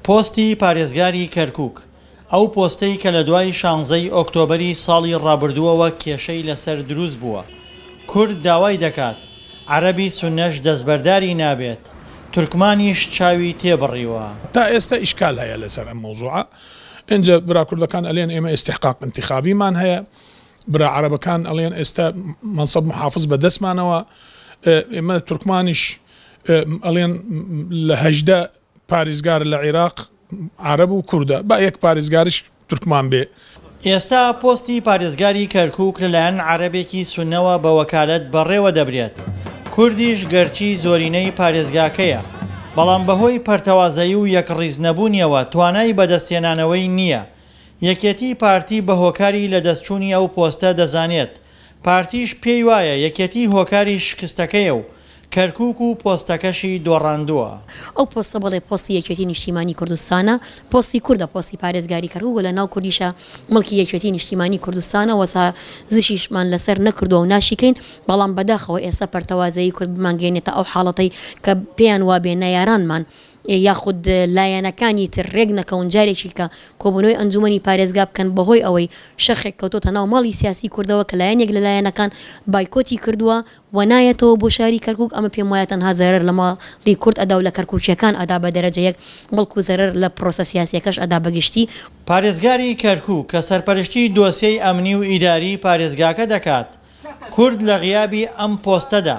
پۆستی پارێزگاری کەرکووک، ئەو پۆستەی کە لە دوای شانزە ی ئۆکتۆبەری ساڵی ڕابردووەوە کێشەی لەسەر دروست بووە، کورد داوای دەکات، عەرەبی سوننەش دەستبەرداری نابێت، تورکمانیش چاوی تێ بڕیوە. تا ئێستا ئیشکال هەیە لەسەر ئەم مەوزوعە، ئینجا برا کوردەکان ئەلێن ئێمە ئیستیحقاق ئینتیخابیمان هەیە، برا عەرەبەکان ئەلێن ئێستا مەنسەب محافز بە دەستمانەوە، ئێمە تورکمانیش ئەلێن لە هەژدە پاریزگار لە عیراق عارەب و کوردە با یەک پاریزگاریش تورکمان بێ. ئێستا پۆستی پارێزگاری کەرکوک لەلایەن عەرەبێکی سونەوە بە وەکالەت بەڕێوە دەبرێت، کوردیش گەرچی زۆرینەی پارێزگاکەیە، بەڵام بەهۆی پەرتەوازەیی و یەکڕیز نەبوونیەوە توانای بەدەستهێنانەوەی نییە، یەکێتی پارتی بەهۆکاری لەدەستچوونی ئەو پۆستە دەزانێت، پارتیش پێی وایە یەکێتی هۆکاری شکستەکەیە و کەرکووک و پۆستەکەشی دۆڕاندووە. ئەو پۆستە بەڵێ پۆستی یەکێتی نیشتیمانی کوردستانە، پۆستی کوردە، پۆستی پارێزگاری کەرکووک و لەناو کوردیشە مڵکی یەکێتی نیشتیمانی کوردستانە و سازشیشمان لەسەر نەکردووە و ناشیکەین، بەڵام بەداخەوە ئێستا پەرتەوازەیی کورد بمانگەیەنێتە ئەو حاڵەتەی کە پێیان وابێ نەیارانمان یاخود لایەنەکانی تر رێک نەکەون جارێکی کە کۆبوونەوەی ئەنجوومەنی پارێزگا بکەن بەهۆی ئەوەی شەرخێک کەوتۆتە ناو ماڵی سیاسی کوردەوە کە لایەنێک لە لایەنەکان بایکۆتی کردووە و نایەتەوە بۆ شاری کەرکوک ئەمە پێم وایە تەنها زەرەر لە ماڵی کورد ئەدا و لە کەرکوکیەکان ئەدا بە دەرەجە یەک بەڵکو زەرەر لە پرۆسە سیاسیەکەش ئەدا بە گشتی. پارێزگاری کەرکوک کە سەرپەرشتی دۆسیەی ئەمنی و ئیداری پارێزگاکە دەکات کورد لە غیابی ئەم پۆستەدا،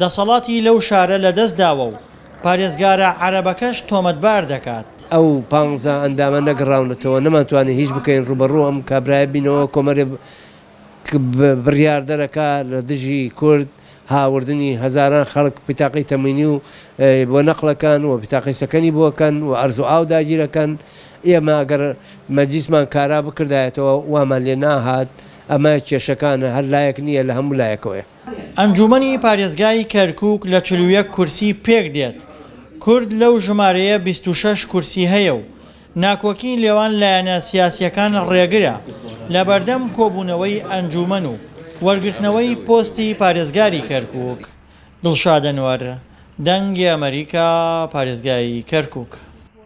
دەسەڵاتی لەو شارە لەدەست داوە و پارێزگارە عەرەبەکەش تۆمەتبار دەکات. ئەو پانزە ئەندامە نەگەڕاونەتەوە، نەمانتوانی هیچ بکەین، ڕووبەڕوو ئەم کابرایە بینەوە، کۆمەرێ ک بڕیاردەرەکا لە دژی کورد، هاوردنی هەزاران خەڵک پیتاقەی تەموینی و بۆ نەقڵەکەن و پیتاقەی سەکەنی بۆکەن و ئەرز و ئاو داگیرەکەن، ئێمە ئەگەر مەجلیسمان کارا بکردایەتەوە وامان لێ ناهات، ئەمە کێشەکانە هەر لایەک نییە لە هەموو لایەکەوەیە. ئەنجوومەنی پارێزگای کەرکووک لە چل و یەک کورسی پێک دێت، کورد لەو ژمارەیە بیست و شەش کورسی هەیە و ناکۆکیی لێوان لایەنە سیاسییەکان ڕێگرە لە بەردەم کۆبوونەوەی ئەنجوومەن و وەرگرتنەوەی پۆستی پارێزگاری کەرکووک. دڵشاد ئەنوەر، دەنگی ئەمەریکا، پارێزگای کەرکووک.